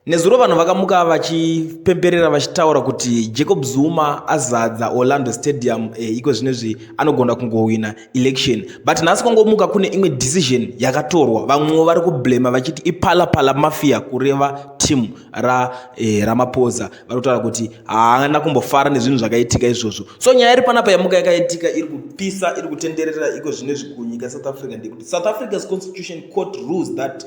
Nezuro vanhu vakamuka vachipemberera vachitaura kuti Jacob Zuma azadza Orlando Stadium eh, iko zvinezvi anogona kungohwina election but nhasi kwangomuka kune imwe decision yakatorwa vamwewo vari kublema vachiti ipalapala mafia kureva team ra eh, Ramaphosa vari kutaura kuti haana kumbofara nezvinhu zvakaitika izvozvo so nyaya iri panapa yamuka yakaitika iri kupisa iri kutenderera iko zvinezvi kunyika South Africa ndekuti South Africa's constitution court rules that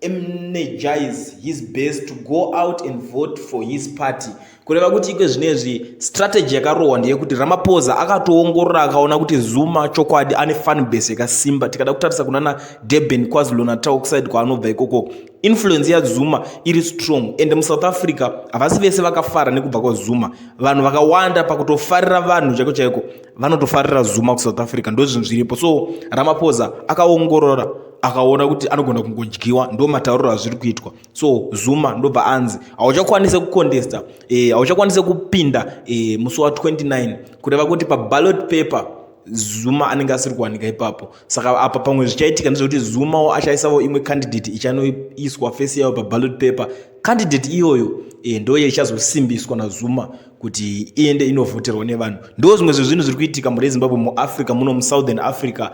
energize his base to go out and vote for his party kureva kuti ikwe zvinezvi strategy yakarohwa ndeyekuti ramapoza akatoongorora akaona kuti zuma chokwadi ane fun base yakasimba tikada kutarisa kunana durban kwazulonatau kusaidi kwaanobva ikoko influence yazuma iri strong and musouth africa havasi vese vakafara nekubva kwazuma vanhu vakawanda pakutofarira vanhu chaiko chaiko vanotofarira zuma kusouth africa ndozvinhu zviripo so ramapoza akaongorora akaona kuti anogona kungodyiwa ndo matauriro azviri kuitwa so zuma ndobva anzi hauchakwanise kucontesta eh, hauchakwanise e, kupinda e, musi wa 29 kureva kuti paballot paper zuma anenge asiri kuwanika ipapo saka apa pamwe zvichaitika ndezvekuti zumawo achaisavo imwe candidate ichanoiswa fesi yayo paballot paper candidate iyoyo e, ndoye ichazosimbiswa nazuma kuti iende inovhoterwa nevanhu ndo zvimwe zvezvinhu zviri kuitika murezimbabwe muafrica muno musouthern africa